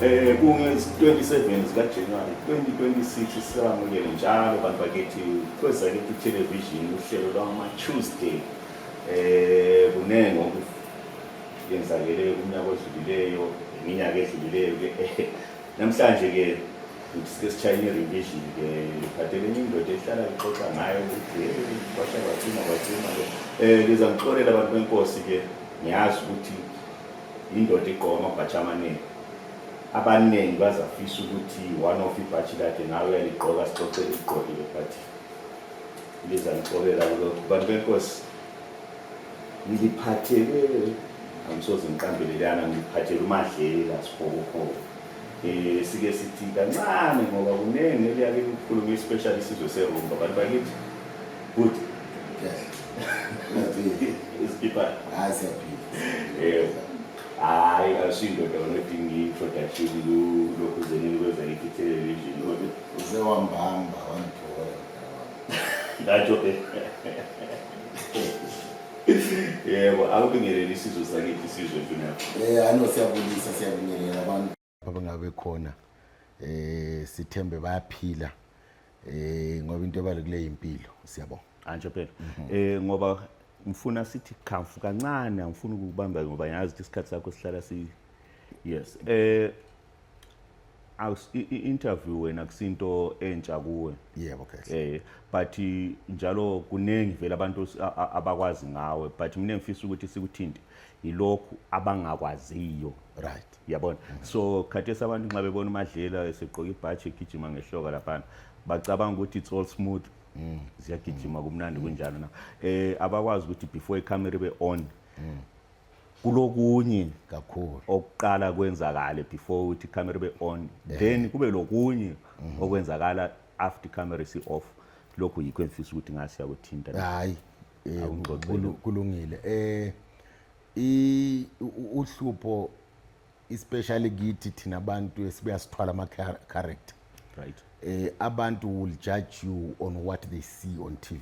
Eh kunge-27 zikaJanuwari 2026 sisamukele njalo bantu bakithi kwezakithi television uhlelo lwama-Tuesday eh kuningi okuyenzakele kunyaka odlulileyo iminyaka edlulileyo ke namhlanje ke Sike sishayela i-revision ke ngiphathele enye indoda ehlala ngixoxa ngayo ukuthi hey kwasha kwacima kwacima ke eh ngiza ngixolela abantu benkosi ke ngiyazi ukuthi indoda igqoka amabhathi amaningi abaningi bazafisa ukuthi one of ibhathi lakhe nawe uyaligqoka sixoxe ligqokile but liza ngixolela kulokhu bantu benkosi ngiliphathele angisoze ngiqambelelana ngiliphathele umadlela sibhokobhoko eh sike sithi kancane ngoba kuningi eliyake kukhuluma especially isizwe serumba abantu bakithi good isikhipha hayi siyaphila eh hayi asindoda unodinga introduction lokhu zenini kwenza ngithi television uze wambamba wangithola ngatsho ke yebo akubingelele isizwe sakithi isizwe mfuneko Eh ano siyabulisa siyabingelela abantu abangabe khona eh sithembe bayaphila eh ngoba into ebalekile impilo siyabonga antsho phela eh ngoba ngifuna sithi khamfu kancane angifuni ukubamba ngoba yazi ukuthi isikhathi sakho sihlala si yes eh i-interview wena kusinto entsha kuwe yebo eh but njalo kuningi vele abantu abakwazi ngawe but mina ngifisa ukuthi sikuthinte yilokhu abangakwaziyo right yabona mm-hmm. so khathesi abantu nxa bebona umadlela esegqoka ibhaji egijima ngehloka laphana bacabanga ukuthi it's all smooth mm. ziyagijima kumnandi mm. kunjalo na eh abakwazi ukuthi before icamera be on mm. kulokunye kakhulu okuqala kwenzakale before ukuthi camera be on yeah. then kube lokunye mm -hmm. okwenzakala after camera si off lokho yikho engifisa ukuthi ngase yakuthinta hayi eh, kulungile eh i uhlupho especially kithi thina abantu esibuya sithwala ama character right eh abantu will judge you on what they see on TV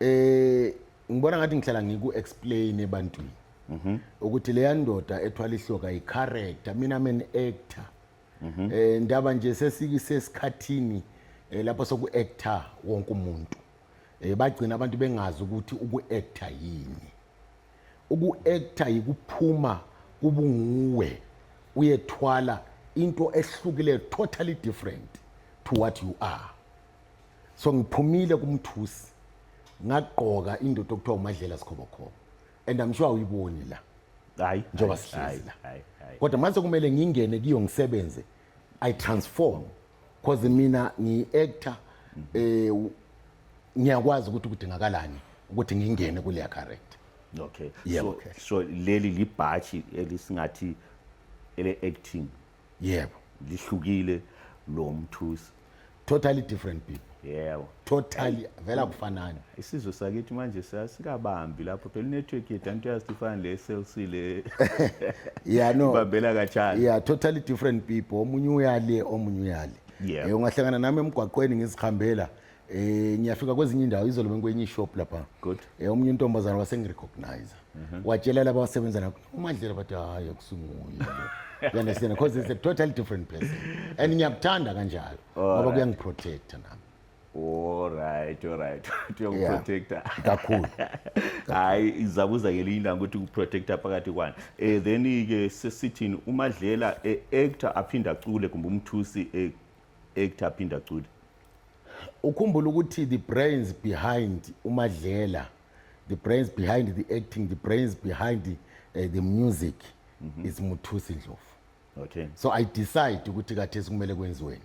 eh ngibona ngathi ngihlala ngiku explain ebantwini mhm. ukuthi leya ndoda ethwala ihloka i character mina men actor mhm. eh ndaba nje sesikisesikhathini eh, lapho soku actor wonke umuntu eh bagcina abantu bengazi ukuthi uku actor yini uku actor yikuphuma kubunguwe uyethwala into ehlukile totally different to what you are so ngiphumile kumthusi ngagqoka indoda okuthiwa umadlela sikhobokhobo and i'm sure awuyiboni la hayi njengoba sihlezi la kodwa mase kumele ngingene kiyo ngisebenze i transform because mina ngi-actor mhm. eh ngiyakwazi ukuthi kudingakalani ukuthi ngingene kuleya character okay yeah, so, okay. so leli libhathi elisingathi ele-acting yebo lihlukile lo mthusi totally different people yebo totally vela kufanani isizwe sakithi manje sikabambi lapho phela network yethu anti yazi ifana le SLC le yeah no babela kachana yeah totally different people omunye uyale omunye uyale yeah ungahlangana nami emgwaqweni ngizihambela Eh ngiyafika kwezinye indawo izolo benkwenye ishop lapha. Good. Eh omunye intombazana wasengirecognize. Mhm. Watshela laba abasebenza lapho uMadlela bathi hayi akusinguye. You understand because it's a totally different person. And ngiyakuthanda kanjalo ngoba kuyangiprotect nami. Alright, alright. Uyokuprotecta. Kakhulu. Hayi izabuza ke linda ukuthi ukuprotecta phakathi kwani. Eh then ke sesithini uMadlela e-actor aphinda cule kumbe umthusi e-actor aphinda cule. ukhumbula ukuthi the brains behind umadlela the brains behind the acting the brains behind the, uh, the music mm -hmm. is muthusi ndlovu okay so i decide ukuthi kathesi kumele kwenziweni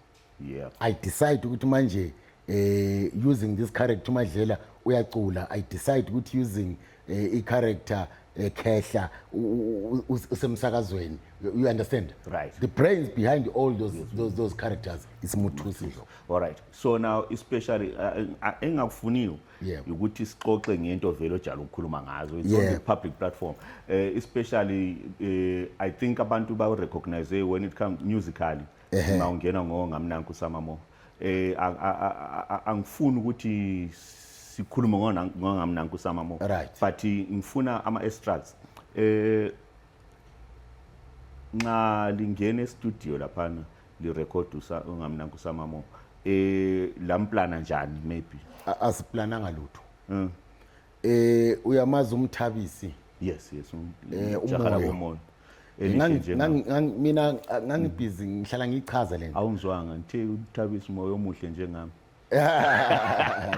yeah i decide ukuthi manje eh using this character umadlela uyacula i decide ukuthi using eh, i-character ekhehla u- u- u- us- usemsakazweni you you understand Right. the brains behind all those, those, those characters is muthusi ndlovu all right so now especially uh, uh, engakufuniyo Yebo. ukuthi sixoxe ngento vele ojala ukukhuluma ngazo it's on Yebo. the public platform uh, especially uh, i think abantu bawu-recognize when it comes musically Ehhe. uma ungena ngo ngamnanku usama mo eh a- a- a- a- angifuni ukuthi sikhulume ngona- ngongamnanku usama mo Right. but ngifuna ama extracts eh nxa lingena estudio laphana lirecord usa ungamnanku usama mo eh lamplana njani maybe A- asiplananga lutho Mm. Eh uyamazi umthabisi. Yes yes um, eh, umjaha komoya. Mina ngangibhizi ngihlala ngichaza lento. Awungizwanga ngithe uthabisa umoya omuhle njengami.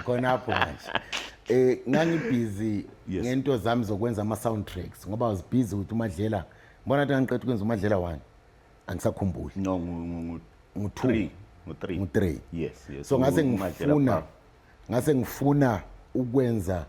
Khona apho manje. Eh ngangibhizi ngento zami zokwenza ama soundtracks ngoba uzibhizi ukuthi umadlela mbona ukuthi ngiqeda ukwenza umadlela wani angisakhumbuli. No ngu 2 ngu 3 ngu 3 yes yes so ngase ngifuna ngase ngifuna ukwenza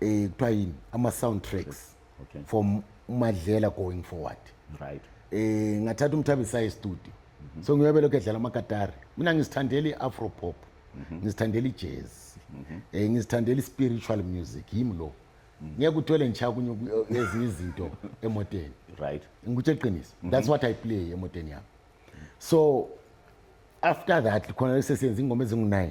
eh kuthiwa yini ama sound tracks okay. from umadlela going forward right eh ngathatha umthabi saye studio mm -hmm. so ngiyobe lokho edlala amakatari mina ngisithandela iafro pop mm -hmm. ngisithandela ijazz mm -hmm. eh ngisithandela spiritual music yimi lo mhm. ngeke uthole ngisha kunye eh, ezinye izinto emoteni right ngikuthi eqiniso mhm. that's what i play emoteni yami so after that khona sesenza ingoma ezingu-9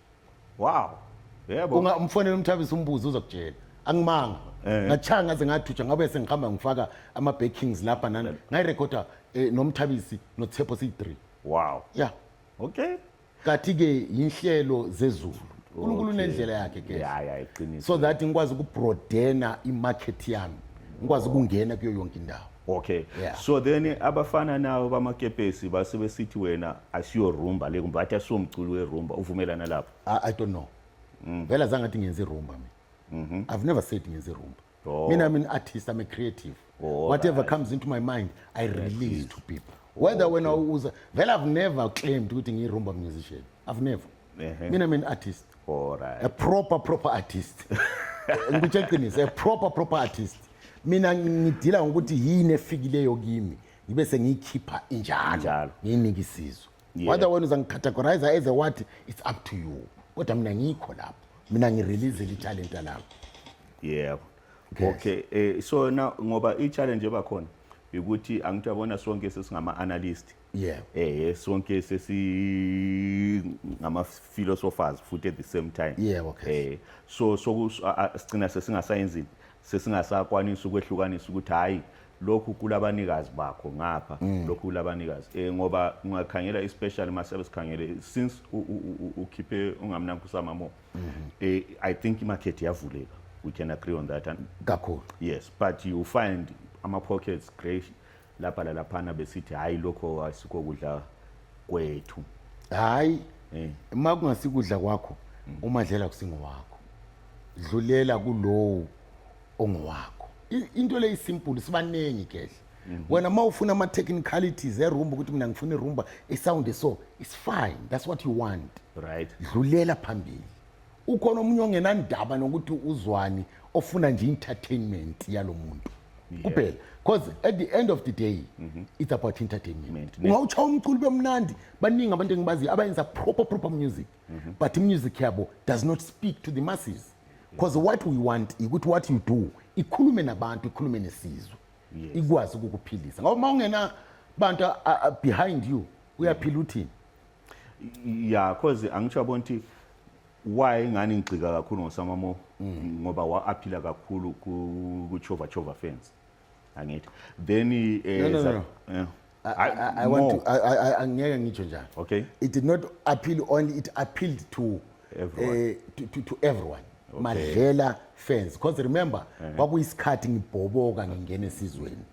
wow yebo unga umfonela umthabisa umbuzo uzokutshela angimanga eh. ngachanga ngaze ngathutsha ngabe sengihamba ngifaka ama bakings lapha nani eh. ngayirecorda eh, nomthabisi nothepho siyi-3 wow ya yeah. okay kathi ke inhlelo zezulu uNkulunkulu unendlela yakhe ke ya ya iqiniso so that ngikwazi ukubroadena imarket yami ngikwazi ukungena kuyo yonke indawo okay yeah. so then abafana nawo bamakepesi base besithi wena asiyo rumba le kumbe athi asiwo mculi werumba uvumelana lapho I, I don't know mm. vele azange athi ngenze irumba mina mm -hmm. i've never said ngenze irumba oh. mina i'm an artist i'm a creative oh, whatever right. comes into my mind i release yes. to people whether okay. wena uza vele i've never claimed ukuthi ngiyirumba musician i've never uh -huh. mina i'm an artist All right. a proper proper artist ngikutshe qiniso a proper proper artist mina ngidila ngokuthi yini efikileyo kimi ngibe sengiyikhipha injalo Njalo. ngiyinike isizwe Yeah. whether wena uzangicategorize as a what it's up to you kodwa mina ngikho lapho mina ngireleasele italenta lami yebo Yes. okay eh so na ngoba i challenge ebakhona ukuthi angithi yabona sonke sesingama analyst Yeah. eh sonke sesi ngama philosophers futhi at the same time Yebo, Cass. eh so soku a- a- sigcina sesingasayenzi sesingasakwanisa ukwehlukanisa ukuthi hhayi lokhu kulabanikazi bakho ngapha mm. lokhu kulabanikazi eh ngoba ungakhangela especially masabe sikhangele since ukhiphe ungamnanku usama mo mm-hmm. eh i think imarket yavuleka we can agree on that and kakhulu yes but you find ama pockets great lapha lalaphana besithi hhayi lokho asikho kudla kwethu hhayi Eh. uma kungasikudla kwakho umadlela kusingowakho dlulela kulowo ongowakho I- into le isimple sibaningi kehle wena uma ufuna ama-technicalities erumba ukuthi mina ngifuna irumba isound so it's fine that's what you want right dlulela phambili ukhona omunye ongenandaba nokuthi uzwani ofuna nje entertainment yalo muntu kuphela because at the end of the day mhm. it's about entertainment ungawutshawa umculo bemnandi baningi abantu engibaziyo abayenza proper proper music mhm. but music yabo does not speak to the masses because what we want ukuthi what you do ikhulume nabantu ikhulume nesizwe ikwazi ukukuphilisa ngoba uma ungena bantu behind you uyaphila uthini ya cause angisho yabona ukuthi why ngani ngigxika kakhulu ngosamamo mm. ngoba waaphila kakhulu kuchova chova fence angithi then eh, no, no, no, no. Yeah. I, I, I want to I, I, I ngeke ngitsho njalo okay it did not appeal only it appealed to everyone uh, to, to, to everyone okay. madlela fans because remember eh. kwakuyisikhathi ngibhoboka ngingena esizweni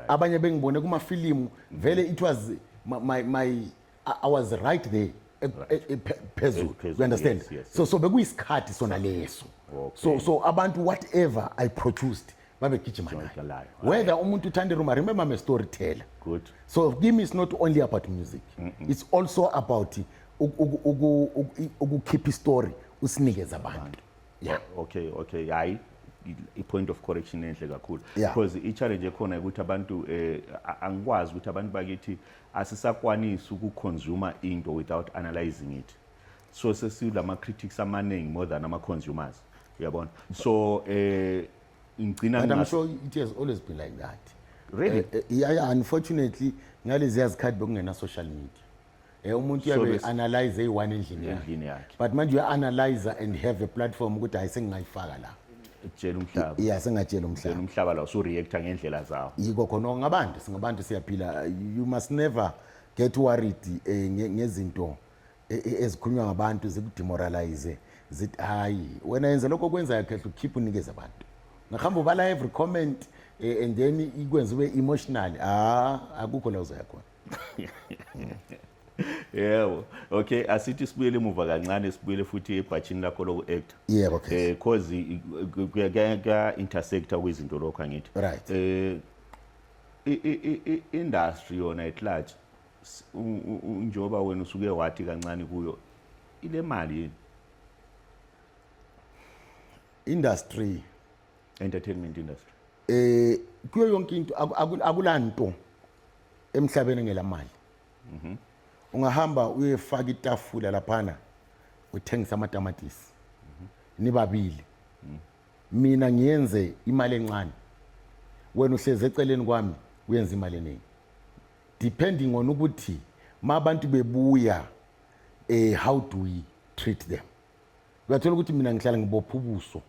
abanye bengibone kumafilimu vele it was my, my, my I, I was right there e- e- e- phe- phezulu Phezulu, you understand yes, yes, so so bekuyisikhathi sona leso Okay. so so abantu whatever i produced babegijima Joint nayo layo. whether umuntu uthanda iruma remember i'm a storyteller Good. so kimi is not only about music it's also about uku- uku- uku- uku- ukukhipha istory usinikeze abantu yeah okay okay hayi i-point of correction enhle kakhulu Yeah. because i-challenge ekhona ukuthi abantu um angikwazi ukuthi abantu bakithi Asisakwanisi uku consumer into without analyzing it. So sesilama critics amaningi more than ama consumers. Uyabona? So eh ngigcina But I'm sure it has always been like that. Really? Uh, yeah, yeah, unfortunately ngalezi yazikhathi bekungena social media. Eh umuntu uyabe so analyze eyi-one endlini yakhe. But manje uya-analyzer and have a platform ukuthi hayi sengingayifaka la. tshela umhlaba ya singatshela umhlaba umhlaba la usureacta ngendlela zawo yiko khona ngabantu singabantu siyaphila you must never get worried eh, ngezinto eh, eh, ezikhulunywa ngabantu zikudemoralize zithi hayi wena yenze lokho okwenzayo khehla ukhiphe unikeze abantu ngahamba ubala every comment eh, and then ikwenza ube emotional ah akukho la uzoya khona yebo okay asithi sibuyele emuva kancane sibuyele futhi ebhatshini lakho loku-actor yebo eh cause kuya-intersecta kwizinto lokho angithi right eh i-industry yona at large njengoba wena usuke wathi kancane kuyo ile mali yini industry entertainment industry eh kuyo yonke into akulanto emhlabeni ngelamali Mhm. Ungahamba uyefaka itafula laphana uthengisa amatamatisi. Mhm. Nibabili. Mhm. Mina ngiyenze imali encane. Wena uhleze eceleni kwami uyenza imali eningi. Depending on ukuthi mabantu bebuya eh how do we treat them? Uyathola ukuthi mina ngihlala ngibopha ubuso.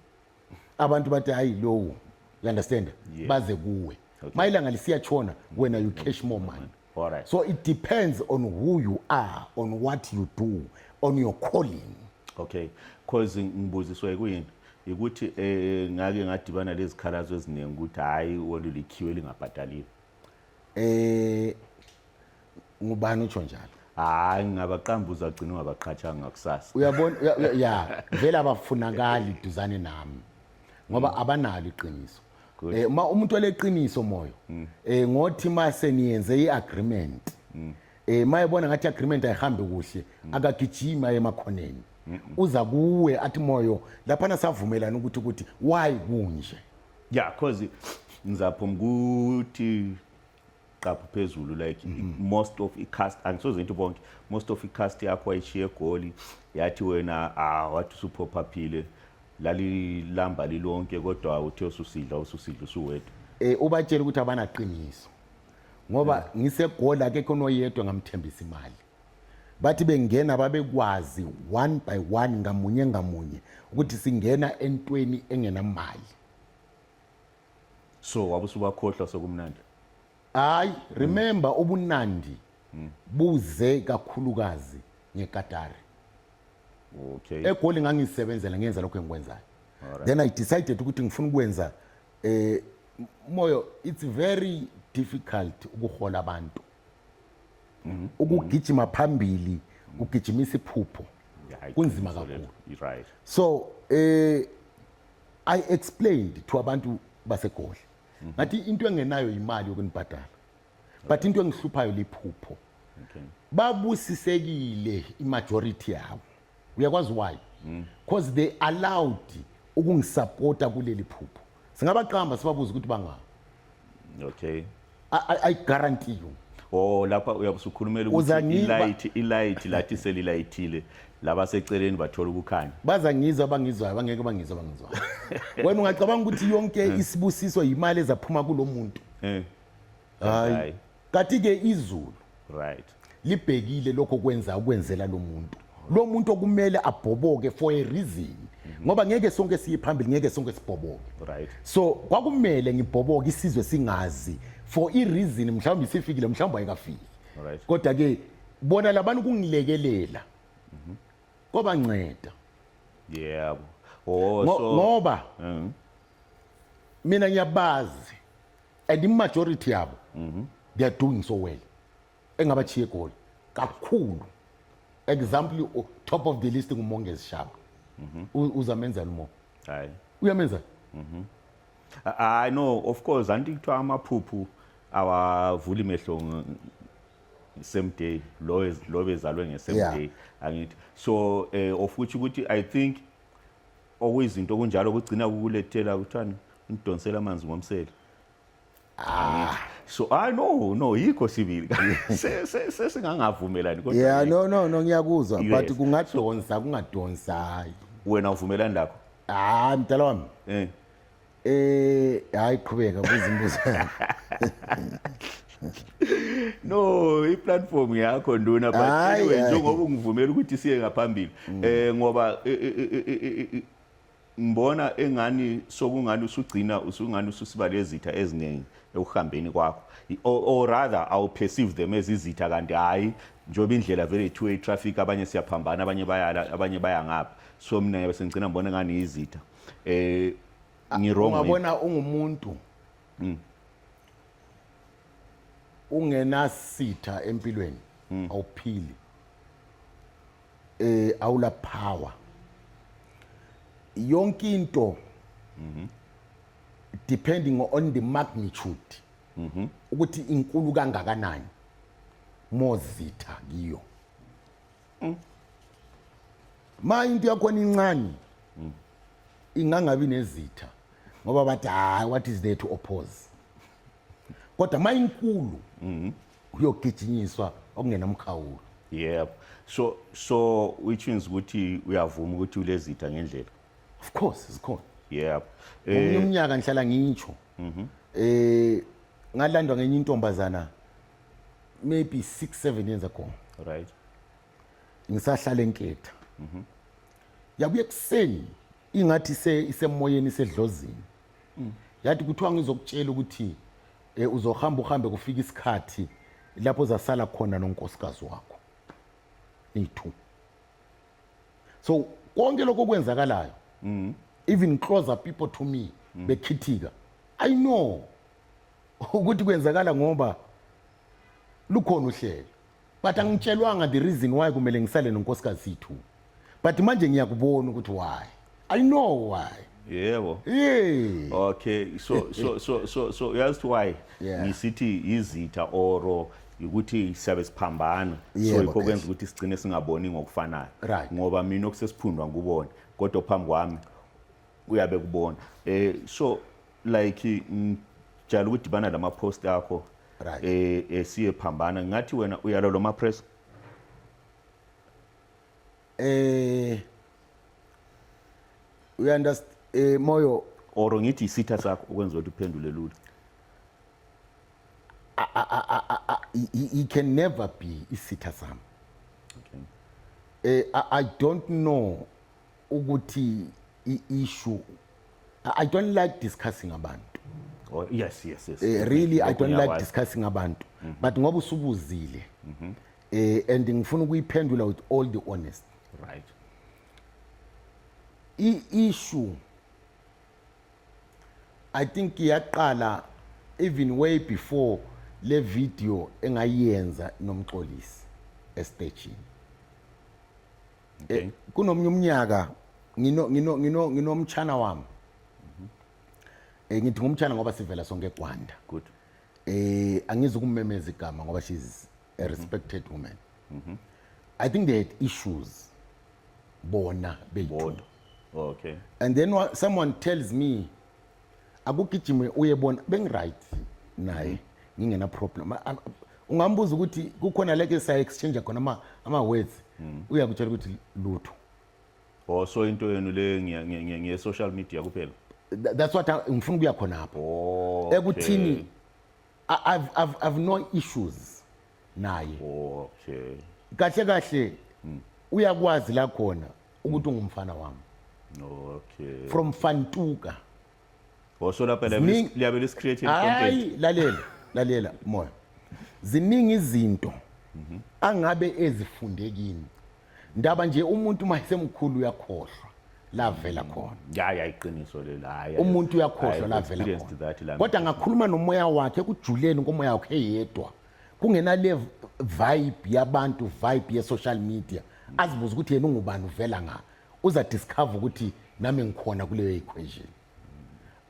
Abantu bathi hayi lowo. You understand? Yeah. Baze kuwe. Okay. Mayilanga lisiyachona wena you cash more money. Alright. So it depends on who you are, on what you do, on your calling. Okay. Cause ngibuziswa kuyini? Ukuthi eh ngake ngadibana lezikhalazo eziningi ukuthi hayi olulikhiwe lingabhadalile. Eh ngubani utsho njalo? hayi ngingabaqamba uzagcina ungabaqhathanga ngakusasa uyabona ya vele abafunakali duzane nami ngoba abanalo iqiniso Good. Eh uma umuntu oleqiniso moyo. Mm. Eh ngothi mase niyenze iagreement. Mm. Eh mayebona ngathi agreement ayihambi kuhle mm. akagijima emakhoneni. Uza kuwe athi moyo lapha nasavumelana ukuthi ukuthi why kunje. Yeah cause ngizapha umkuthi qapha phezulu like mm -hmm. most of icast angisoze ngithi bonke most of icast yakho ayishiye egoli yathi wena ah wathi usuphopaphile lalilamba lilonke kodwa uthe ususidla ususidla usuwedwa eh ubatshela ukuthi abanaqiniso ngoba yeah. ngisegoli akekho noyedwa ngamthembisa imali bathi bengena babekwazi one by one ngamunye ngamunye ukuthi singena entweni engenamali so wabe usubakhohlwa sokumnandi hayi remember ubunandi buze kakhulukazi ngekatari okay egoli ngangisebenzela ngenza lokho engikwenzayo Alright. then i decided ukuthi ngifuna ukwenza eh moyo it's very difficult ukuhola abantu Mm-hmm. ukugijima phambili ugijimisa iphupho Yeah, kunzima iqiniso kakhulu lelo. You're right so eh I explained to abantu baseGoli. Mhm. Ngathi into engenayo imali yokunibhadala. But into engihluphayo liphupho. Okay. Babusisekile imajority yabo. Uyakwazi why? Mm. Because they allowed ukungisupporta kuleli phupho. Singabaqamba sibabuza ukuthi bangaba. okay I, I, I guarantee you oh lapha uyabe usukhulumela ukuthi Uza ngi- ilight ilight lathi selilayithile laba seceleni bathola ukukhanya baza ngizwa abangizwayo bangeke bangizwa abangizwayo wena ungacabanga ukuthi yonke isibusiso yimali ezaphuma kulo muntu Eh. Hayi. Hayi. Kati ke izulu right libhekile lokho kwenza ukwenzela lo muntu lo muntu okumele abhoboke for a reason ngoba ngeke sonke siye phambili ngeke sonke sibhoboke right so kwakumele ngibhoboke isizwe singazi for i reason mhlawumbe isifikile mhlawumbe ayikafiki right kodwa ke bona labantu kungilekelela mhm. koba nceda yebo oh so ngoba mhm. mina ngiyabazi and imajority yabo mhm. they are doing so well engabachiye egoli kakhulu example oh, top of the list ngumongezi shaba mhm. uzamenzani mo hayi uyamenzani mhm. i know of course anti kuthiwa amaphuphu awavuli mehlo same day lo lo bezalwe nge same yeah. day angithi so eh of which ukuthi i think okuyizinto kunjalo kugcina kukulethela kuthani ngidonsela amanzi ngomsele ah so i no no yikho sibili sesingangavumelani kodwa yeah no no no ngiyakuzwa but kungadonsa kungadonsayo wena uvumelani lakho ah mdala wami eh Eh hayi qhubeka buza imibuzo. no iplatform yakho nduna but anyway njengoba ungivumela ukuthi siye ngaphambili mm. eh ngoba e, e, e, ngibona engani sokungani usugcina usungani ususibale ezitha eziningi ekuhambeni kwakho or rather awu perceive them as izitha kanti hayi njengoba indlela vele two way traffic abanye siyaphambana abanye bayala abanye baya ngapha so mina ngiyabe sengigcina ngibona ngani izitha eh ah, ngirong ungabona ungumuntu mm. ungenasitha empilweni mm. awuphili eh awula power yonke into mhm depending on the magnitude mhm ukuthi inkulu kangakanani mozitha kiyo mm. ma into yakhona incane mm. ingangabi nezitha ngoba bathi hayi what is there to oppose kodwa ma inkulu mm-hmm. uyogijinyiswa okungenamkhawulo yebo so so which means ukuthi uyavuma ukuthi ulezitha ngendlela of course zikhona yebo eh, umnyaka ngihlala ngitsho mhm eh ngalandwa ngenye intombazana maybe six seven years ago right ngisahlala enketha mhm. yabuye ekuseni ingathi isemoyeni isedlozini mm. yathi kuthiwa ngizokutshela ukuthi um uzohamba uhambe kufika isikhathi lapho zasala khona nonkosikazi wakho niyi-two so konke lokho okwenzakalayo mm. even closer people to me mm. bekhithika i know ukuthi kwenzakala ngoba lukhona uhlelo but angitshelwanga the reason why kumele ngisale nonkosikazi yethu but manje ngiyakubona ukuthi why i know why yebo yeah okay so so so so so uyazi ukuthi why Yeah. ngisithi izitha oro ukuthi siyabe siphambana so Yebo, yikho kwenza yes. ukuthi sigcine singaboni ngokufanayo Right. ngoba mina okusesiphundwa ngubona kodwa phambi kwami uyabe kubona eh so like ngijala ukudibana lama post akho Right. eh esiye phambana ngathi wena uyalo loma press Eh you understand eh moyo or ngithi isitha sakho ukwenza ukuthi uphendule lula he, he- he can never be isitha sami. okay Eh I, I don't know ukuthi i-issue I don't like discussing abantu Oh, yes yes yes eh, really i don't like discussing abantu mm-hmm. but ngoba usubuzile mm-hmm. eh and ngifuna ukuyiphendula with all the honest right i issue i think iyaqala even way before le video engayenza nomxolisi estage okay. Eh, kunomunye umnyaka ngino ngino ngino nginomtshana wami eh ngithi ngumtshana ngoba sivela sonke eGwanda good eh angizi ukumemeza igama ngoba she's a respected woman mm -hmm. i think they had issues bona bebodwa okay and then someone tells me akugijime uye bona bengiright naye ngingena problem ungambuza ukuthi kukhona leke sa exchange khona ama ama words hmm. uyakutshela ukuthi lutho oh so into yenu le ngiye social media kuphela that's what ngifuna ukuya khona lapho oh, ekuthini i've i've i've no issues naye okay kahle kahle hmm. uyakwazi la khona ukuthi ungumfana wami okay from fantuka washo lapha Ziningi- liyabe lisicreate content hayi lalela lalela moya ziningi izinto mhm. angabe ezifunde kini ndaba nje umuntu uma esemkhulu uyakhohlwa lavela mm. khona ya ya iqiniso lelo hayi umuntu uyakhohlwa lavela khona kodwa ngakhuluma nomoya wakhe kujuleni komoya wakhe yedwa kungenale vibe yabantu vibe ye-social media azibuze ukuthi yena ungubani uvela nga uza discover ukuthi nami ngikhona kuleyo equation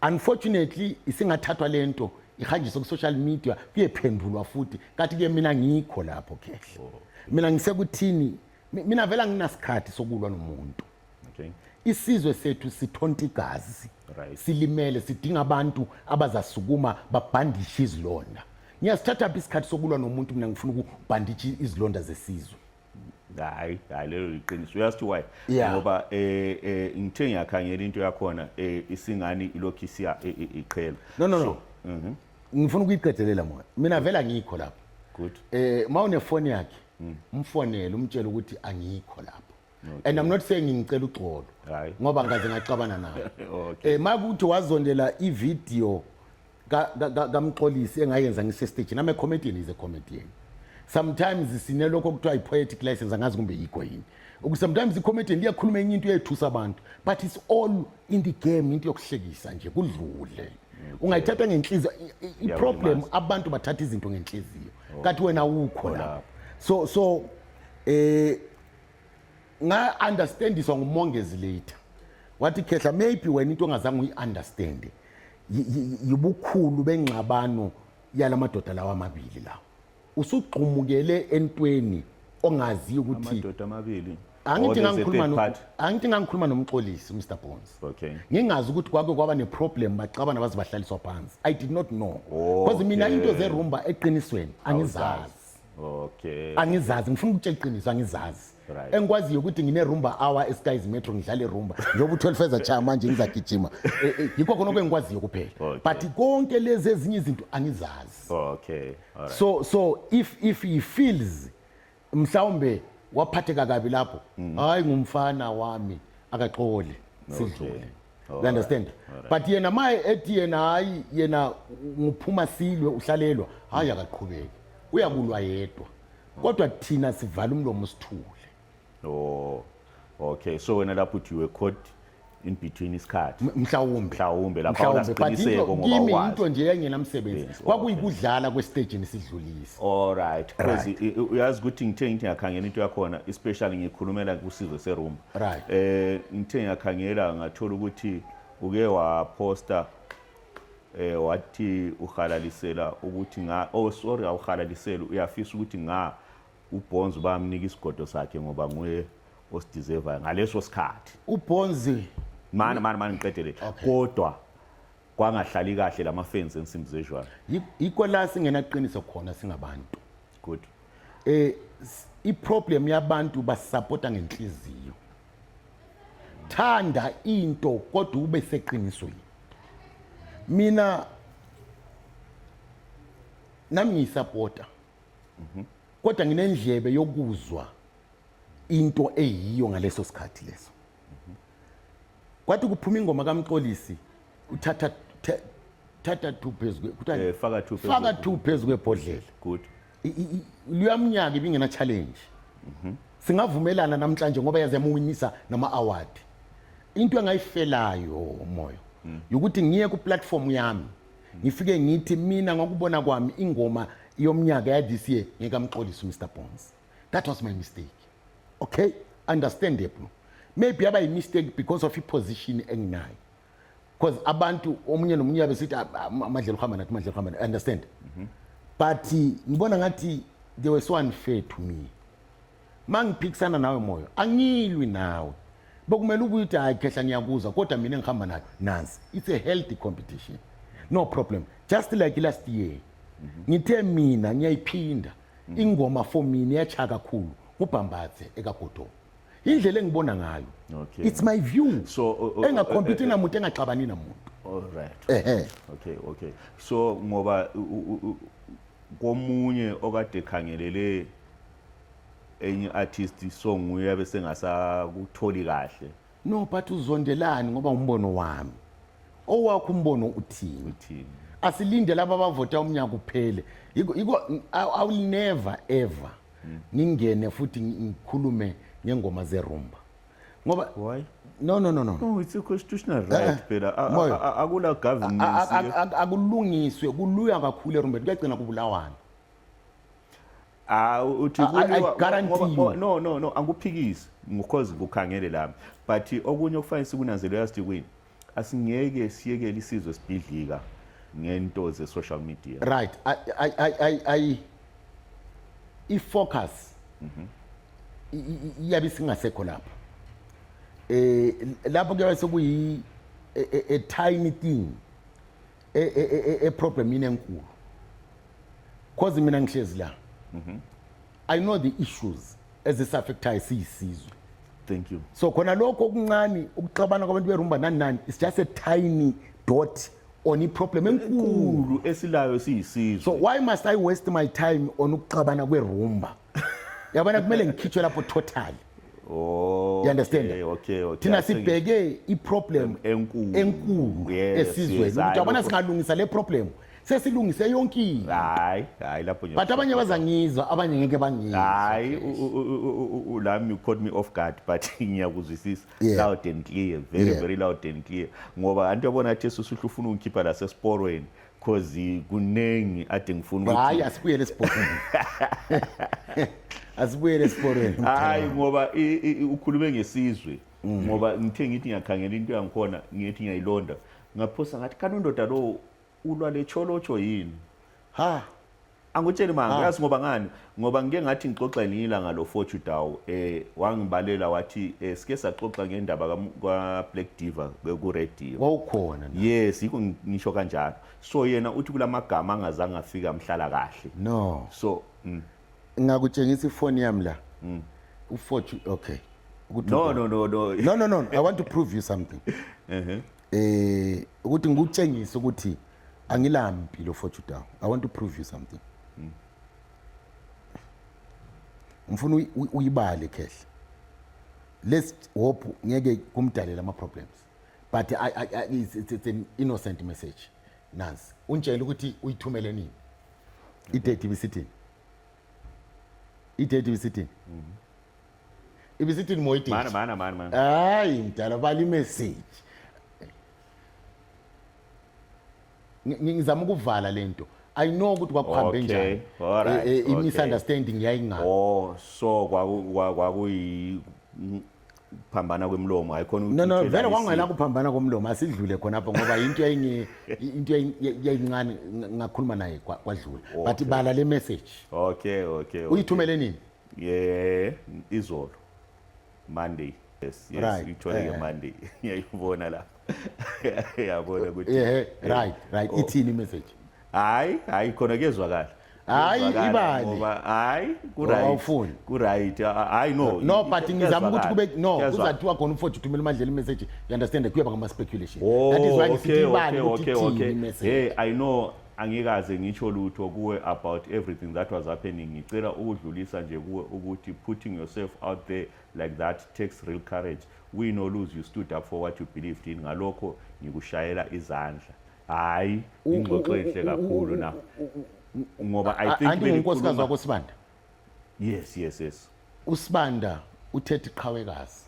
unfortunately isingathathwa lento ihanjiswe ku-social media kuyephendulwa futhi kathi ke mina ngikho lapho khehle mina ngisekuthini mina vela nginasikhathi sokulwa nomuntu okay. isizwe sethu sithonta igazi right. silimele sidinga abantu abazasukuma babhandishe izilonda ngiyasithatha phi isikhathi sokulwa nomuntu mina ngifuna ukubhandisha izilonda zesizwe hayi hayi lelo liqiniso uyazi ukuthi why yeah. ngoba eh, eh ngithe ngiyakhangela into yakhona eh, isingani ilokhu isiya eh, eh, iqhela no no so, no mm -hmm. ngifuna ukuyiqedelela mona mina vela ngikho lapho good eh mawune phone yakhe mm. umfonele umtshele ukuthi angikho lapho and i'm not saying ngicela uxolo Hayi. ngoba ngaze ngaxabana nawe Okay. eh makuthi wazondela ivideo ka- ka- ka- kamxolisi engayenza ngisestage nami comedian is a comedian sometimes sinelokho okuthiwa i-poetic license angazi kumbe yikho yini Uku- sometimes i-comedian liyakhuluma enye into eyethusa abantu but it's all in the game into yokuhlekisa nje kudlule ungayithatha ngenhliziyo I- i- i-problem Yawulimaza. abantu bathatha izinto ngenhliziyo kanti wena awukho la Khona. so so eh nga understandiswa ngumongezi later wathi khehla maybe wena into ongazange uyi-understande yibukhulu bengxabano yala madoda lawa amabili lawa usugxumukele entweni ongaziyo ukuthi amadoda amabili angithi ngangikhuluma angithi ngangikhuluma nomxolisi Mr Bones okay ngingazi ukuthi kwake kwaba neproblem baxabana baze bahlaliswa phansi i did not know oh, because mina into zerumba eqinisweni angizazi okay angizazi ngifuna ukutshela iqiniso angizazi Right. engikwaziyo ukuthi ngine-rumba hour eskies metro ngidlale rumba njengoba u-twelve ezachaya manje ngizagijima Eh, eh, yikho khona okengikwaziyo kuphela Okay. but konke lezi ezinye izinto angizazi okay all right so so if if he feels mhlawumbe waphatheka kabi lapho hayi ngumfana wami akaxoli sidlule you understand but yena ma ethi yena hayi yena ngiphuma silwe uhlalelwa hayi akaqhubeki uyabulwa yedwa kodwa thina sivala umlomo sithule oh okay so wena lapho uthi you were caught in between isikhathi mhlawumbe mhlawumbe lapha unasiqiniseko ngoba kimi into nje engenamsebenzi kwakuyikudlala kwesitejini sidlulisa all right because uyazi ukuthi ngithe ngithi ngiyakhangela into yakhona especially ngikhulumela kusizwe serumba right eh ngithe ngiyakhangela ngathola ukuthi uke waposta eh wathi uhalalisela ukuthi nga oh sorry awuhalalisela uyafisa ukuthi nga ubonzi bamnika isigodo sakhe ngoba nguye osideservayo ngaleso sikhathi ubonzi mani mani mani ngiqedele kodwa kwangahlali kahle lama fence ensimbi zejwayo yikho la singenaqiniso khona singabantu good eh iproblem yabantu basupporta ngenhliziyo thanda into kodwa ube seqinisweni mina nami ngiyisupporta mhm. kodwa nginendlebe yokuzwa into eyiyo ngaleso sikhathi leso Kwathi kuphuma ingoma kaMxolisi uthatha the- thatha 2 phezu kwe- kuthiwa- Eh, faka two phezu faka kwe- 2 phezu kwebhodlela. good I- i- i- Luyamnyaka ibingena challenge. Singavumelana namhlanje ngoba yaze yamuwinisa nama award. Into engayifelayo umoya ukuthi ngiye ku platform yami ngifike ngithi mina ngokubona kwami ingoma yomnyaka ya this year ngikamxolisi Mr Bones. that was my mistake okay understandable maybe yaba yimistake because of iposition enginayo because abantu omunye nomunye yabe sithi ah, ah, amadlela uhamba nathi amadlela uhamba nathi understand mhm. but ngibona ngathi they were so unfair to me mangiphikisana nawe moyo angilwi nawe bokumele ubuye uthi hayi khehla ngiyakuzwa kodwa mina ngihamba nayo nansi it's a healthy competition no problem just like last year ngithe mina ngiyayiphinda Mm. ingoma for mina yacha kakhulu ngubhambathe ekagodomo indlela engibona ngayo okay. it's my view so uh, uh, uh engakhompete uh, uh, namuntu engaxabani namuntu all right ehe okay okay so ngoba komunye okade khangelele enye artist song uyabe sengasakutholi kahle no but uzondelani ngoba umbono wami owakho umbono uthini uthini asilinde laba abavota umnyaka uphele yiko i will never ever mm. ngingene futhi ngikhulume ngengoma zerumba ngoba why no no no no no it's a constitutional eh, right eh, phela akula governance akulungiswe kuluya kakhulu erumbeni kuyagcina kubulawana Ah uthi kuliwa oh, no no no anguphikisi because kukhangele lami but okunye okufanele sikunanzele yazi kwini asingeke siyekele isizwe sibhidlika ngento ze social media right i i i i i focus mhm iyabe singasekho lapha eh lapho kuyabe sekuyi a, a, a tiny thing e, e, e, e, e problem yini enkulu cause mina ngihlezi la mhm. i know the issues ezisaffectayo siyisizwe thank you so khona lokho okuncane ukuxabana kwabantu berumba nani nani it's just a tiny dot on iproblem enkulu esilayo siyisizwe so why must i waste my time on ukuxabana kwerumba yabona kumele ngikhitshwe lapho totally Oh, you understand? Okay, okay, okay. Thina sibheke i-problem enkulu enkulu esizweni. Uyabona singalungisa le problem. Sesilungise yonke into. Hayi, hayi lapho nje. But abanye bazangizwa, abanye ngeke bangizwe. Hayi, ulami you caught me off guard but ngiyakuzwisisa. Loud and clear, very very loud and clear. Ngoba anti yabona athi susuhlu ufuna ungikhipha la sesporweni. cause kuningi ade ngifuna ukuthi hayi asibuyele esiporweni asibuyele esiporweni hayi ngoba i- i- i- ukhulume ngesizwe Mm. ngoba ngithe ngithi ngiyakhangela into yangikhona ngithi ngiyayilonda ngaphosa ngathi kanti undoda lowo ulwa lecholotsho yini ha Angutsheli manga, ah. uyazi ngoba ngani? Ngoba ngike ngathi ngixoxa elinye ilanga lo Fortune Daw eh wangibalela wathi eh sike saxoxa ngendaba ka Black Diva ku radio. Wawukhona na? Yes, yiko ngisho kanjalo. So yena uthi kulamagama angazange afika mhlala kahle. No. So mm. ngakutshengisa ifoni yami la. Mm. U Fortune okay. No no no no. No no no, I want to prove you something. Uh-huh. eh ukuthi ngikutshengise ukuthi angilampi lo fortune down i want to prove you something mm. ngifuna uyibale khehle let's hope ngeke kumdalela ama problems but I, I, I, it's, it's, it's an innocent message nansi untshela ukuthi uyithumele nini idate ibisithini idate ibisithini mm -hmm. ibisithini moyididi mana mana mana mana hayi mdala bala imessage Ngi- ngi- ngizama ukuvala lento i know ukuthi kwakuhambe Okay, njani alright, Eh, eh, okay. i-misunderstanding yayingaka oh so kwaku- kwa- kwakuyi mm, phambana kwemlomo hayikhona no no vele kwangena kuphambana komlomo asidlule khonapho ngoba into yayinge into yayi- yayi- yayincane ng- ngakhuluma naye kwa- kwadlula but Okay. bala le message okay okay okay. uyithumele nini ye izolo monday yes yes right. ithole eh. ngemonday ngiyayibona la yabona ukuthi eh, eh, right right oh. ithini imessage hayi hayi khona kuyezwakala hayi ibani ngoba hayi ku-right ku-right hayi no no but ngizama ukuthi kube no kuzathiwa khona umfowethu uthumela umadlela imessage you understand kuyaba ngama-speculation oh, that is why ngisithi ibani ukuthi ithini imessage hey i know Angikaze ngitsho lutho kuwe about everything that was happening. Ngicela ukudlulisa nje kuwe ukuthi putting yourself out there like that takes real courage. Win or lose you stood up for what you believed in. Ngalokho ngikushayela izandla. Hayi ingxoxo enhle kakhulu na. Ngoba I think Anti unkosikazi wakho Sibanda. Yes, yes, yes. USibanda uthethe iqhawekazi.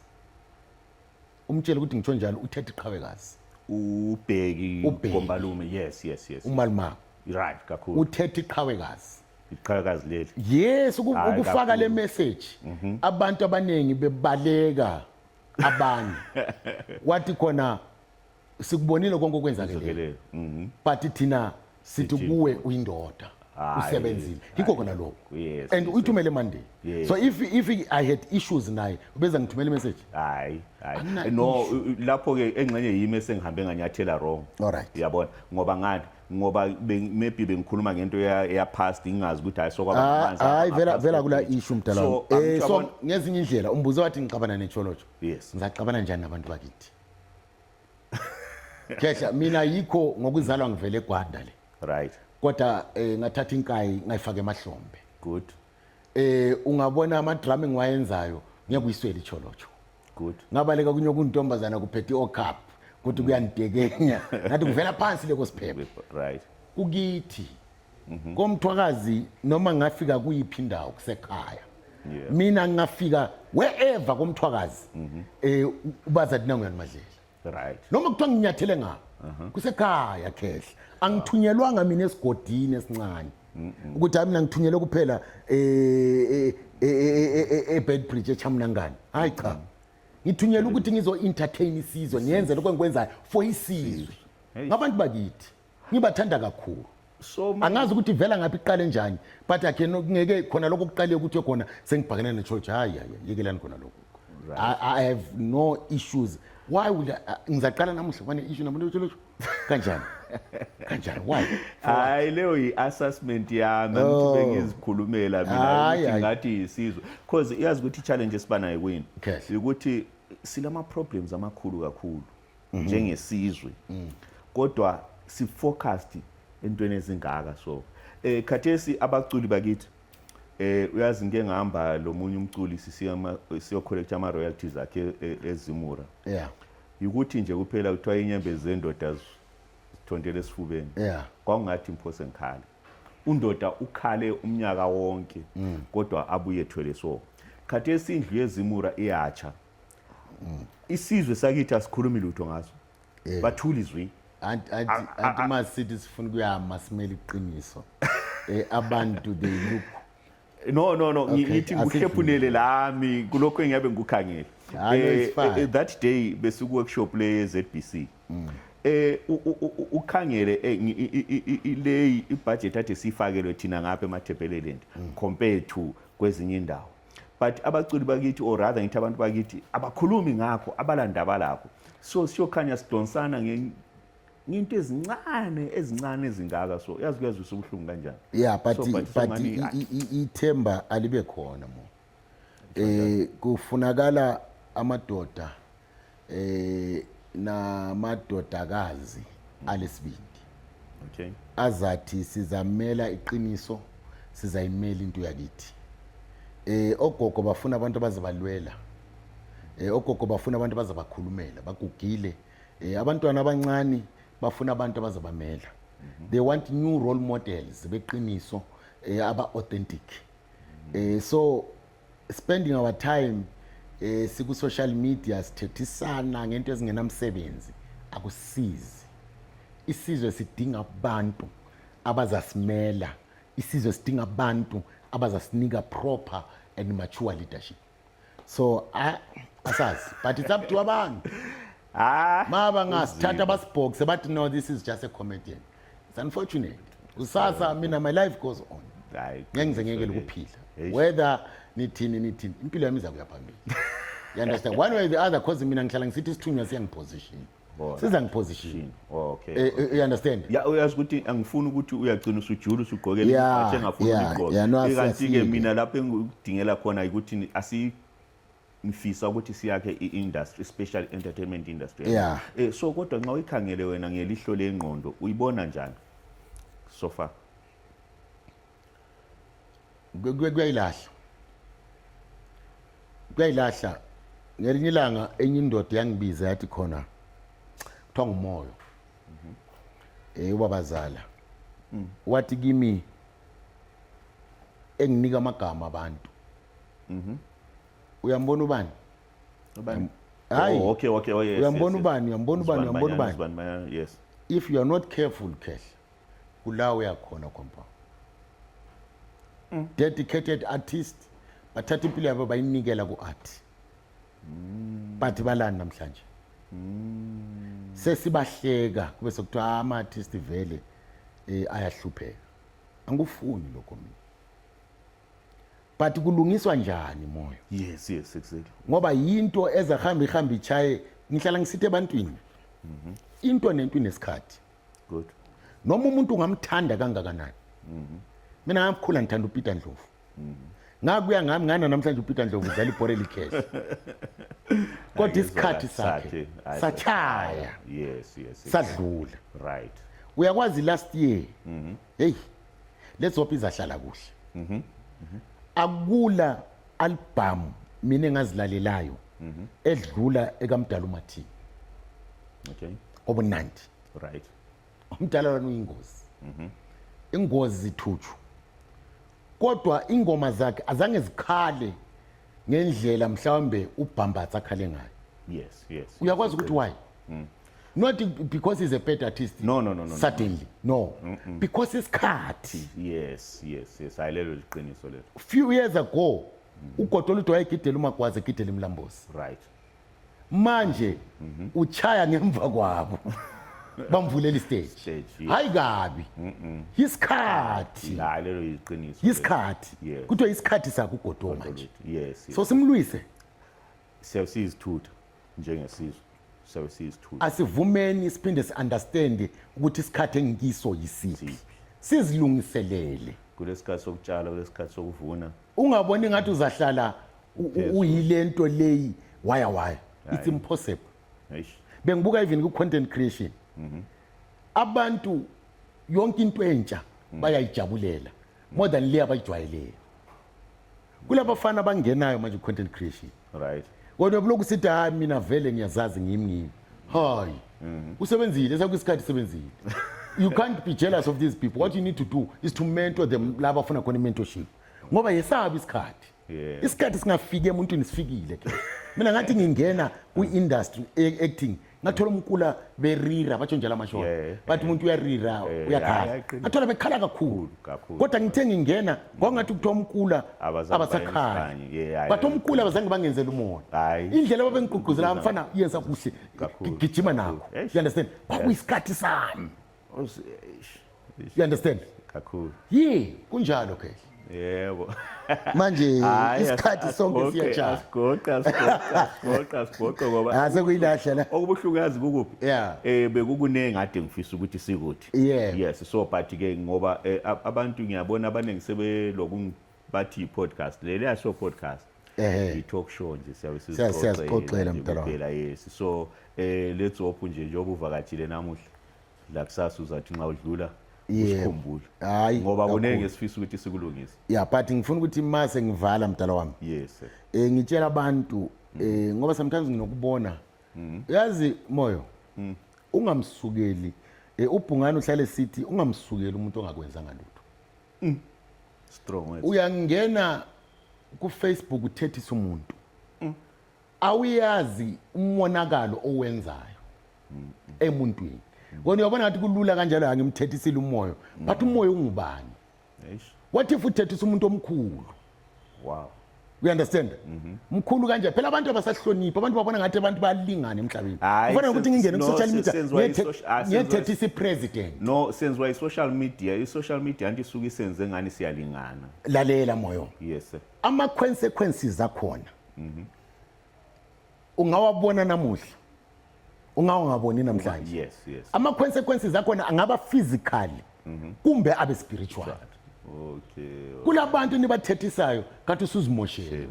umtshele ukuthi ngitsho njalo uthethe iqhawekazi ubheki Ubheki. kombalume yes yes yes umaluma right kakhulu uthethe iqhawekazi iqhawekazi leli yes uku- Hayi, ukufaka kakhulu. le message abantu abaningi bebaleka abanye wathi khona sikubonile konke okwenzakele izokelelo mhm but thina sithi kuwe uyindoda usebenzile yikho kona lokho and uyithumele monday so if if i had issues naye ubeza ngithumela imessage hayi hayi no lapho ke engxenye yimi esengihambe nganyathela wrong alright uyabona ngoba ngani ngoba maybe bengikhuluma ngento ya past ngingazi ukuthi hayi sokwaba ah, amanzi hayi vela vela kula issue mdala eh so ngezinye indlela umbuzo wathi ngixabana necholojo yes ngizacabana njani nabantu bakithi Khehla mina yikho ngokuzalwa ngivele eGwanda le. Right. Kodwa eh ngathatha inkayi ngayifaka emahlombe. Good. Eh ungabona ama drum ngiwayenzayo ngiyakuyiswela icholocho. Good. Ngabaleka kunye kuntombazana kuphethe ocup kuthi mm. kuyanidekenya. Ngathi kuvela phansi leko siphephe. Right. Kukithi. Mhm. komthwakazi noma ngafika kuyiphi indawo kusekhaya yeah. mina ngingafika wherever komthwakazi mm -hmm. eh ubaza thina nguyani madlela right noma kuthiwa nginyathele ngapha uh -huh. kusekhaya khehla angithunyelwanga mina esigodini esincane ukuthi hayi mina ngithunyelwe kuphela ebedbridge echamnangane hayi cha ngithunyelwe ukuthi ngizo-entertain isizwe ngiyenze lokho engikwenzayo for isizwe ngabantu bakithi ngibathanda kakhulu so ma- angazi ukuthi ivela ngaphi iqale njani but akhe ngeke khona lokho kuqale ukuthi khona sengibhakene nechurch hayi hayi yekelani khona lokho I, i have no issues why would I- I- ngizaqala namuhla kwane issue namuhla losho kanjani kanjani why hayi leyo yi-assessment yami Oh. angithi bengizikhulumela mina Hayi, ukuthi hayi. ngathi yisizwe because iyazi ukuthi i-challenge esibanayo kwini Yes. ukuthi silama-problems amakhulu kakhulu mhm. njengesizwe mm. kodwa si focused entweni ezingaka so eh khathesi abaculi bakithi eh uyazi ngeke ngihamba lo munye umculi sisiya siyo collect ama royalties akhe e, ezimura yeah ukuthi nje kuphela kuthiwa inyembe zendoda zithontele esifubeni yeah kwakungathi imphose ngikhale undoda ukhale umnyaka wonke mm. kodwa abuye thwele so khathesi indlu yezimura iyatsha mm. isizwe sakithi asikhulumi lutho ngaso yeah. bathula izwi anti anti masithi sifuna kuyama simele iqiniso eh, abantu they look no no no ngithi ngihlephunele lami kulokho engiyabe ngikukhangele ah, eh, eh, eh, that day besuku workshop le ye ZBC mm. eh ukhangele le ibudget athe sifakelwe thina ngapha emathepheleleni mm. compared to kwezinye indawo but abaculi bakithi or rather ngithi abantu bakithi abakhulumi ngakho abalandaba lakho so siyokhanya sidonsana ngento ezincane ezincane ezingaka so yazi kuyazwisa ubuhlungu kanjani yeah but so, but, but ithemba alibe khona mo eh kufunakala amadoda eh namadodakazi alesibindi okay azathi sizamela iqiniso sizayimela into yakithi eh ogogo bafuna abantu abazabalwela eh ogogo bafuna abantu abazabakhulumela bagugile eh abantwana abancane bafuna abantu abazabamela mhm. they want new role models beqiniso eh aba authentic eh so spending our time eh siku social media sithethisana ngento ezingenamsebenzi akusizi isizwe sidinga abantu abazasimela isizwe sidinga abantu abazasinika proper and mature leadership so asazi but it's up to abantu ah maba ngasithatha basibhokse bathi no this is just a comedian it's unfortunate kusasa mina my life goes on Hayi, ngeke ngize ngeke qiniso lokuphila Eish. whether nithini nithini impilo yami iza kuya phambili you understand one way or the other cause mina ngihlala ngisithi isithunywa siyangiposition Bona. siza ngiposition okay Eh, eh, you understand ya uyazi ukuthi angifuni ukuthi uyagcina usujula usugqoke Yeah, ibhathi engafuni yeah, uligqoke yeah, no, kanti-ke siyasile. mina lapho engikudingela khona ukuthi ni- asi ngifisa ukuthi siyakhe i-industry special entertainment industry yeah. eh, so kodwa nxa uyikhangele wena ngelihlo lengqondo uyibona njani so far kuyayilahla kuyayilahla ngelinye ilanga enye indoda yangibiza yathi khona kuthiwa ngumoyo um eh, ubabazala mm. wathi kimi enginika amagama abantu Mhm. Uyambona ubani? Ubani? Hayi. Oh, okay, okay, oh yes. Uyambona ubani? Uyambona ubani? Uyambona ubani? Uzibani Manyana, yes. If you are not careful, Khehla, kula uyakhona compound. Mm. Dedicated artist bathatha impilo yabo bayinikela ku-art. Mm. Bathi balani namhlanje? Mm. Sesibahleka kube sekuthiwa ah, ama artist vele eh ayahlupheka. Angikufuni lokho mina. but kulungiswa njani moyo yes yes exactly ngoba yinto eza hamba ihamba ichaye ngihlala ngisithe ebantwini mhm. into nento inesikhathi good noma umuntu ungamthanda kangakanani mhm. mina ngamkhula ngithanda uPeter Ndlovu mhm. ngakuya ngami ngana namhlanje uPeter Ndlovu udlala ibhore likhehle kodwa isikhathi sakhe sachaya yes yes sadlula right uyakwazi last year Hey, let's hope izahlala kuhle. Mhm. Mm mhm. Akula album mina engazilalelayo mhm. edlula ekamdala uMathini. Okay. Obunandi. Right. Umdala lona uyingozi. Mhm. Mm ingozi zithutshu. Kodwa ingoma zakhe azange zikhale ngendlela mhlawumbe ubhambatha akhale ngayo yes yes uyakwazi ukuthi why mm. not because he's a bad artist no no no no suddenly no mm -mm. because isikhathi yes yes yes ayilelo liqiniso lelo few years ago mm. ugodo oludwa egidela umagwaze egidela imlambosi right manje mhm. uchaya ngemva kwabo bamvulela istage hayi kabi isikhathi la lelo yiqiniso isikhathi kuthiwa isikhathi sakho ugodo manje yes so simlwise siyasizithutha njengesizwe siyasizithutha asivumeni siphinde siunderstand ukuthi isikhathi engikiso yisiphi sizilungiselele kulesikhathi sokutshala kulesikhathi sokuvuna ungaboni ngathi uzahlala uyile nto leyi waya waya it's impossible bengibuka even ku-content creation mhm. abantu yonke into entsha mhm. bayayijabulela more than le abayijwayeleyo kulabafana abangenayo manje ku-content creation right kodwa buloku sithi hayi mina vele ngiyazazi ngimi ngimi hayi mhm. usebenzile sakuyisikhathi sebenzile you can't be jealous of these people what you need to do is to mentor them laba afuna khona i-mentorship ngoba yesabi isikhathi isikhathi singafiki emuntwini sifikile ke mina ngathi ngingena kwi-industry e-, acting ngathola umkula berira batsho njalo amashona Yeah, bathi umuntu uyarira Eh, uyakhala ayaqina. ngathola bekhala kakhulu Kakhulu. kodwa ngithe ngingena kwakungathi kuthiwa umkula Abazange abasakhali bayenze, yeah, yeah, bathi yeah. umkula abazange bangenzela umona Hayi. indlela babengigqugquzela abafana yenza kuhle Kakhulu, gijima kakhulu. nakho Eish. you understand kwakuyisikhathi sami Usi- eish, eish, you understand kakhulu yi kunjalo ke yebo manje Hhayi, isikhathi as- sonke asigoqe, siyajaha asigoqe asigoqe asigoqe asigoqe ngoba Ah, sekuyilahla la. okubuhlungazi kukuphi Yeah. eh bekukuningi ade ngifisa ukuthi sikuthi Yeah. yes so but ke ngoba eh, ab- abantu ngiyabona abaningi sebeloku bathi podcast leli aso podcast Ehhe. i-talk show nje siyabe Siya- siyazixoxela, mdala wami. sizixoxela yes so eh let's hope nje njengoba uvakatshile namuhla la kusasa uzathi nxa udlula usikhumbule hayi ngoba kuningi esifisa ukuthi sikulungise yeah but ngifuna ukuthi uma sengivala mdala wami yes sir eh ngitshela abantu eh ngoba sometimes nginokubona mm-hmm. yazi moyo mm. ungamsukeli eh, ubhungane uhlale sithi ungamsukeli umuntu ongakwenzanga lutho mm. strong uyangena ku Facebook uthethisa umuntu mm. awuyazi umonakalo owenzayo emuntwini kona uyabona ngathi kulula kanjalo angimthethisile umoya but umoya ungubani what if uthethisa umuntu omkhulu wow you understand mhm. mkhulu kanje phela abantu abasahloniphi abantu babona ngathi abantu bayalingana emhlabeni kufanele ukuthi ngingene ku-social media ah, ngiyethethisa i-president no senziwa i-social media i-social media anti isuke isenze ngani siyalingana lalela moyo yes ama-consequences akhona mhm. ungawabona namuhla ungawungaboni namhlanje yes yes ama consequences akhona angaba physical mhm. kumbe abe spiritual Okay. Kulabantu nibathethisayo kathi usuzimoshele.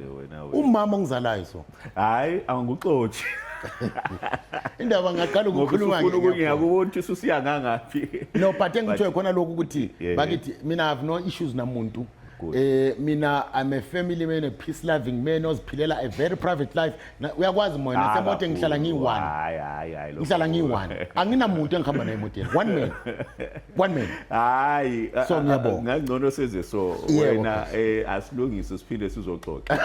Umama ngizalayo so. Hayi angikuxothi. Indaba ngaqala ukukhuluma ngeke. Ngifuna ukuyakuthi ususiya ngangaphi. No but engithoe khona lokho ukuthi bakithi mina have no issues namuntu. Good. Eh mina I'm a family man a peace loving man oziphilela a very private life. Na- Uyakwazi moya Ah, nasemoto ngihlala kakhulu. ngiyi-one. Hayi, hayi, hayi, lokho Ngihlala kukhulu. ngiyi-one. Anginamuntu engihamba naye emotweni. One man. One man. hayi a- So, a- ngiyabonga. ngangcono senze so Yebo, wena eh, asilungise siphinde sizoxoxa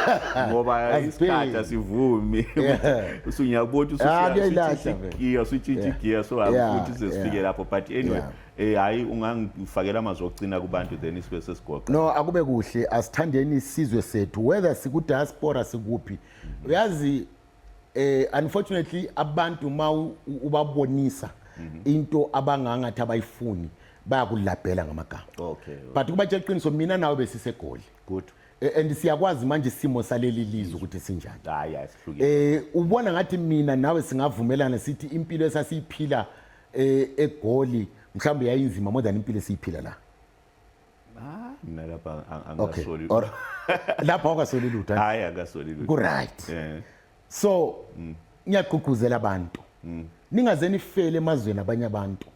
ngoba Asibheki. isikhathi asivumi Yeah. usunyabona Ah, kuyayilahla vele. usuyigiya usuyigiya so Yeah, futhi size sifike yeah. lapho but anyway Yeah. Eh hayi ungangifakela amazwi okucina kubantu then isibe sesigoqa. No akube kuhle asithandeni isizwe sethu whether siku diaspora sikuphi. Uyazi eh unfortunately abantu ma ubabonisa mhm. into abangangathi abayifuni bayakulabhela ngamagama. Okay. But kuba tshela iqiniso mina nawe besisegoli. Good. Eh, and siyakwazi manje isimo saleli lizwe ukuthi sinjani hayi asihlukile eh ubona ngathi mina nawe singavumelana sithi impilo esasiyiphila e, egoli mhlawumbe yayinzima more than impilo esiyiphila la Ah, mina lapha ang- okay angasoli or lapha awukasoli lutho hayi akasoli lutho ku-right Eh, so ngiyagqugquzela abantu ningaze nifele emazweni abanye abantu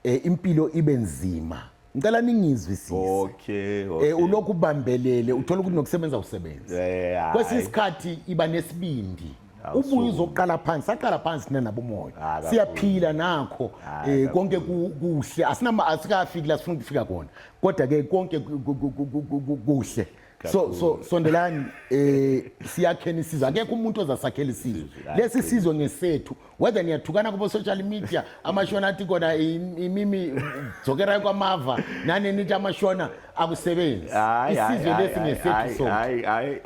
um impilo ibe nzima ngicela ningizwisise okay, okay. Eh, ulokhu ubambelele uthola ukuthi nokusebenza usebenza yeah, kwesinye isikhathi iba nesibindi ubuye uzoqala phansi saqala phansi thina nabomoya ah, siyaphila nakho ah, eh, konke kuhle asinama asikafiki la sifuna ukufika kona kodwa ke konke kuhle so so sondelani eh siyakheni sizwe akekho umuntu ozasakhela isizwe lesi sizwe ngesethu whether niyathukana kubo social media amashona athi kona imimi dzokerayo kwamava nani nithi amashona akusebenzi isizwe lesi ngesethu so hayi hayi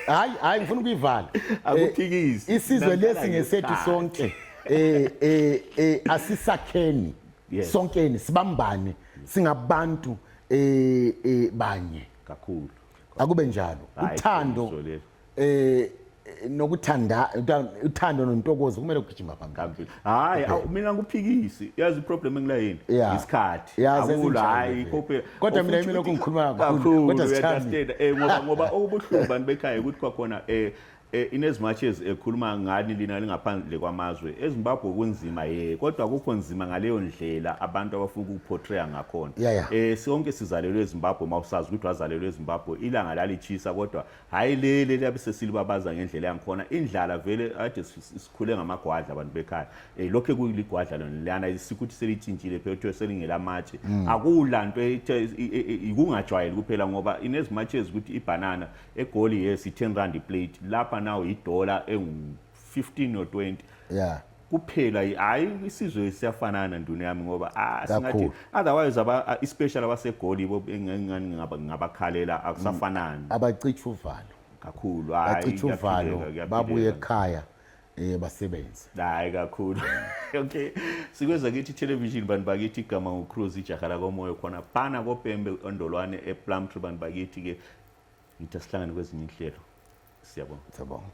hayi hayi ngifuna ukuyivala akuphikisi eh, isizwe lesi ngesethu sonke eh eh, eh asisakheni sonkeni sibambane singabantu eh, eh banye kakhulu akube njalo uthando eh nokuthanda uthando nontokozo kumele kugijima phambili hayi mina ngiphikisi yazi iproblem engilayini isikhathi akulo hayi iphophe kodwa mina mina lokungikhuluma kakhulu kodwa sithanda eh ngoba ngoba okubuhlungu bantu bekhaya ukuthi kwakhona eh E, in as much as ekhuluma ngani lina lingaphandle kwamazwe ezimbabwe kunzima ye kodwa kukho nzima ngaleyo ndlela abantu abafuna ukuportraya ngakhona yeah, yeah. e, sonke sizalelwe ezimbabwe uma usazi ukuthi wazalelwe ezimbabwe ilanga lalitshisa kodwa hhayi lele liyabe sesilibabaza ngendlela yangikhona indlala vele ade sikhule ngamagwadla abantu bekhaya e, lokhe kuligwadla lona lana sikuthi selitshintshile phela kuthiwe selingelamatshe mm. akula nto ikungajwayeli kuphela ngoba in as much as ukuthi ibhanana egoli yes i-10 rand iplate lapha nawo idola engu-15 or 20 yeah kuphela hayi isizwe siyafanana nduna yami ngoba ah, singathi otherwise aba especially abasegoli bo engingani ngaba ngabakhalela akusafanani mm. abacitha uvalo kakhulu hayi bacitha uvalo babuye ekhaya eh basebenze hayi kakhulu okay sikweza kithi television bantu bakithi igama ucruise ijaha lakomoyo khona phana kopembe ondolwane eplumtree bantu bakithi ke ngithi asihlangane kwezinye inhlelo siyabonga siyabonga